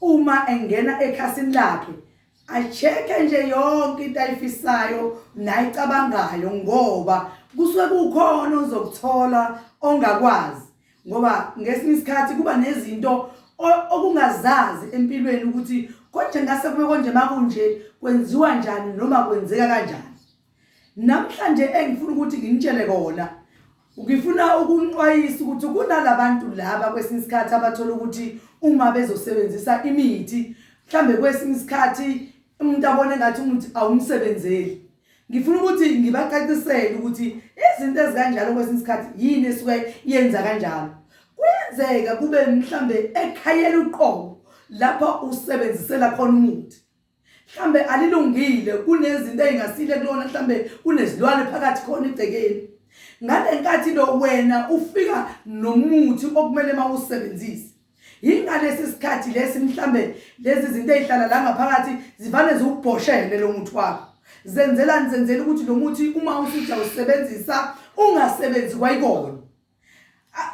Uma engena ekhasini lakhe acheke nje yonke into ayifisayo nayicabangayo ngoba kusuke kukhona ozokuthola ongakwazi ngoba ngesinye isikhathi kuba nezinto okungazazi empilweni ukuthi konje ngase kube konje makunje kwenziwa njani noma kwenzeka kanjani Namhlanje engifuna ukuthi nginitshele kona ngifuna ukunixwayisa ukuthi kunalabantu laba kwesinye isikhathi abathola ukuthi uma bezosebenzisa imithi mhlambe kwesinye isikhathi umuntu abone ngathi umuthi awumsebenzeli ngifuna ukuthi ngibacacisele ukuthi izinto ezikanjalo kwesinye isikhathi yini esuke yenza kanjalo kuyenzeka kube mhlambe ekhayela uqobo lapho usebenzisela khona umuthi mhlambe alilungile kunezinto ezingasile kulona mhlambe kunezilwane phakathi khona igcekeni ngalenkathi lo wena ufika nomuthi okumele mawusebenzise yingalesi sikhathi lesi mhlambe lezi zinto ezihlala la ngaphakathi zivane ziwubhoshele lo muthi wakho zenzelani zenzela ukuthi lo muthi uma usija usebenzisa ungasebenzi kwayikona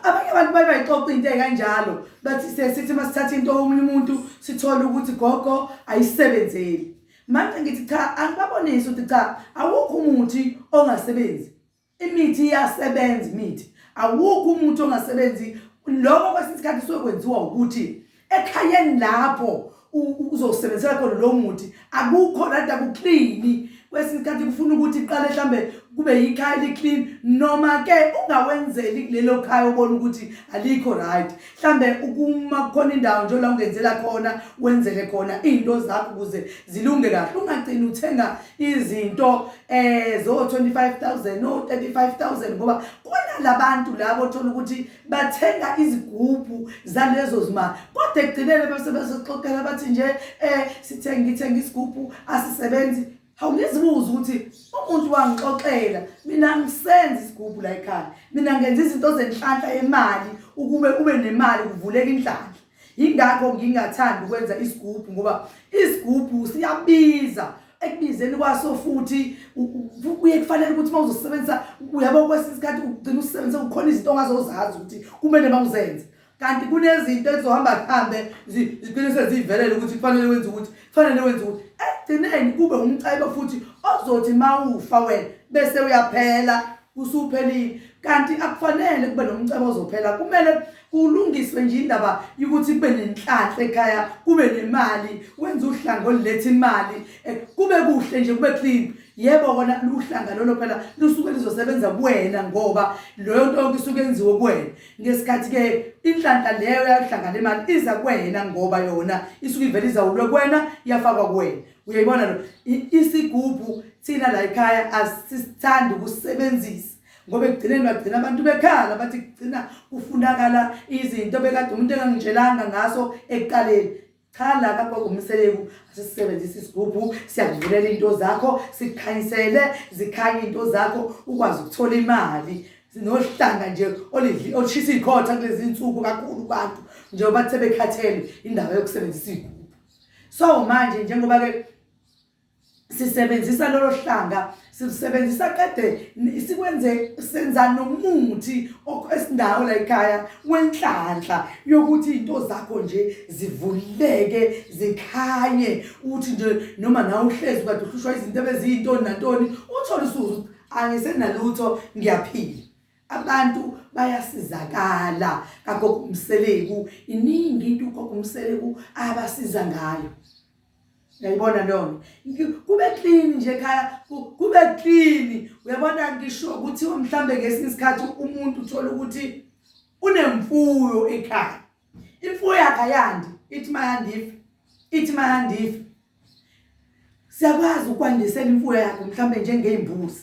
abanye abantu baye bayixoxa into ekanjalo bathi sesithi uma sithatha into omunye umuntu sithole ukuthi gogo ayisebenzeli manje ngithi cha angibabonisi ukuthi cha awukho umuthi ongasebenzi imithi iyasebenza imithi awukho umuthi ongasebenzi lokho kwesinye isikhathi sokwenziwa ukuthi ekhayeni lapho uzosebenzisela khona lo muthi akukho rada kuklini kwesinye isikhathi kufuna ukuthi iqale mhlambe kube yikhaya eliclean noma ke ungawenzeli kulelo khaya ubona ukuthi alikho right mhlambe ukuma khona indawo nje la ungenzela khona wenzele khona izinto zakho ukuze zilunge kahle ungagcini uthenga izinto eh zo 25000 no 35000 ngoba kunalabantu labo othola ukuthi bathenga izigubhu zalezo zimali kodwa ekugcineni bese bezoxoxela bathi nje um sithenga ngithenga isigubhu asisebenzi hawu ngizibuza ukuthi umuntu wangixoxela mina ngisenza isigubhu la ekhaya mina ngenza izinto zenhlanhla yemali ukube ube nemali kuvuleka inhlanhla Yingakho ngingathandi ukwenza isigubhu ngoba isigubhu siyabiza ekubizeni kwaso futhi kuye kufanele ukuthi uma uzosebenzisa uyabo kwesinye isikhathi ugcina usisebenzise kukhona izinto ongazozazi ukuthi kumele uma uzenze kanti kunezinto ezizohamba kuhambe zigcine sezivelele ukuthi kufanele wenze ukuthi kufanele wenze ukuthi ekugcineni kube umcebo futhi ozothi uma ufa wena bese uyaphela usuphelile kanti akufanele kube nomcebo ozophela kumele kulungiswe nje indaba yokuthi kube nenhlanhla ekhaya kube nemali wenza uhlanga oluletha imali eh, kube kuhle nje kube clean yebo kona luhlanga lolo phela lusuke lizosebenza kuwena ngoba leyo nto yonke isuke yenziwe kuwena ngesikhathi ke inhlanhla leyo yahlanga le mali iza kuwena ngoba yona isuke ivele izawulwe kuwena yafakwa kuwena uyayibona lo isigubhu thina la ekhaya asisithandi ukusebenzisa ngoba ekugcineni bagcina abantu bekhala bathi kugcina kufunakala izinto bekade umuntu engangitshelanga ngaso ekuqaleni cha la kakwakungumseleku asisebenzisa isigubhu siyakuvulela into zakho sikhanyisele zikhanye into zakho ukwazi ukuthola imali sinohlanga nje olidli olishisa ikhotha kulezi nsuku kakhulu abantu njengoba sebekhathele indaba yokusebenzisa igubhu so manje njengoba ke sisebenzisa lolo hlanga sisebenzisa qede sikwenze senza nomuthi esindawo la ekhaya wenhlanhla yokuthi into zakho nje zivuleke zikhanye uthi nje noma na uhlezi kade uhlushwa izinto ebeziyintoni nantoni uthola usuzu angisenalutho ngiyaphila abantu bayasizakala kagogo umseleku iningi into ugogo umseleku abasiza ngayo yayibona lona kube clean nje ekhaya kube clean uyabona ngisho ukuthi mhlambe ngesinye isikhathi umuntu uthola ukuthi unemfuyo ekhaya imfuyo yakhe ayandi ithi mayandife ithi mayandife siyakwazi ukwandisela imfuyo yakhe mhlambe njengeyimbuzi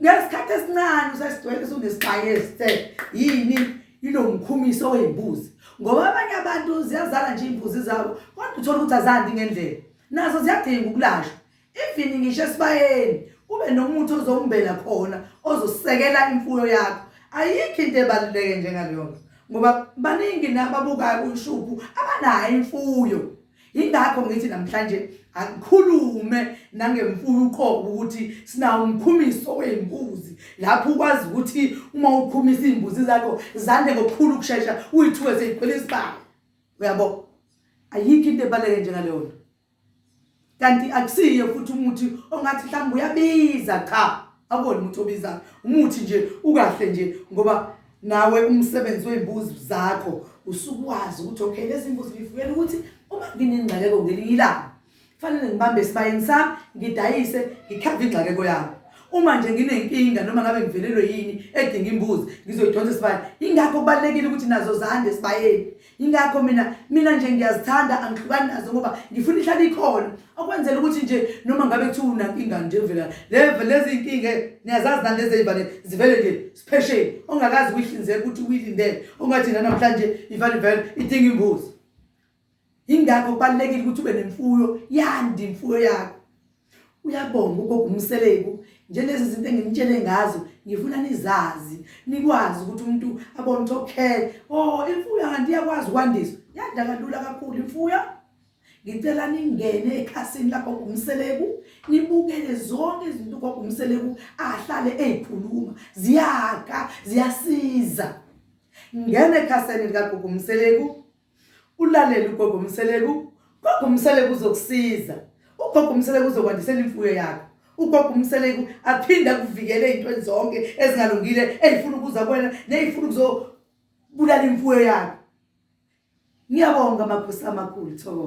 ngesikhathi esincane usesidwele usunesibhaye esithe yini inomkhumiso wey'mbuzi ngoba abanye abantu ziyazala nje iy'mbuzi zabo kodwa uthole ukuthi azandi ngendlela nazo ziyadinga ukulashwa even ngisho esibayeni kube nomuthi ozombela khona ozosekela imfuyo yakho ayikho into ebaluleke njengaleyonto ngoba baningi nababukayo ushubhu abanayo imfuyo Yingakho ngithi namhlanje akukhulume nangemfuyo uqobo ukuthi sinawo umkhumiso wey'mbuzi lapho ukwazi ukuthi uma ukhumisa iy'mbuzi zakho zande ngokukhulu ukushesha uyithuke seyigcwele isibalo uyabo ayikho into ebaluleke njengaleyo nto kanti akusiye futhi umuthi ongathi mhlawumbe uyabiza cha akubona umuntu obizayo umuthi nje ukahle nje ngoba Nawe umsebenzi wey'mbuzi zakho usuke wazi ukuthi okay lezi mbuzi ngifukela ukuthi uma nginengxakeko ngelinye ilanga kufanele ngibambe esibayeni sami ngidayise ngikhave ingxakeko yami uma nje nginenkinga noma ngabe ngivelelwe yini edinga imbuzi ngizoyidonsa esibayeni ingakho kubalulekile ukuthi nazo zande esibayeni yingakho mina mina nje ngiyazithanda angihlukani nazo ngoba ngifuna ihlale ikhona okwenzela ukuthi nje noma ngabe kuthiwa unankinga nje vela leve lezi nkinga niyazazi nani lezi eyivane zivele nje siphesheni ongakazi kuyihlinzeka ukuthi uyilindele ongathi nanamhlanje ivale vele idinga imbuzi yingakho kubalulekile ukuthi ube nemfuyo yandi imfuyo yakho uyabonga ugogo umseleku njenezi zinto engimtshele ngazo ngifuna nizazi nikwazi ukuthi umuntu abone ukuthi okay oh imfuyo kanti iyakwazi ukwandiswa yanda kalula kakhulu imfuyo ngicela ningene ekhasini lakho umseleku nibukele zonke izinto ugogo umseleku ahlale ezikhuluma ziyaka ziyasiza ngene ekhasini likagogo umseleku Ulalele ugogo Mseleku. Gogo Mseleku uzokusiza. Ugogo Mseleku uzokwandisela imfuyo yakho. Ugogo Mseleku aphinde akuvikele ezintweni zonke ezingalungile ezifuna ukuza kuwena nezifuna ukuzobulala imfuyo yakho. Ngiyabonga makhosi amakhulu Thoko.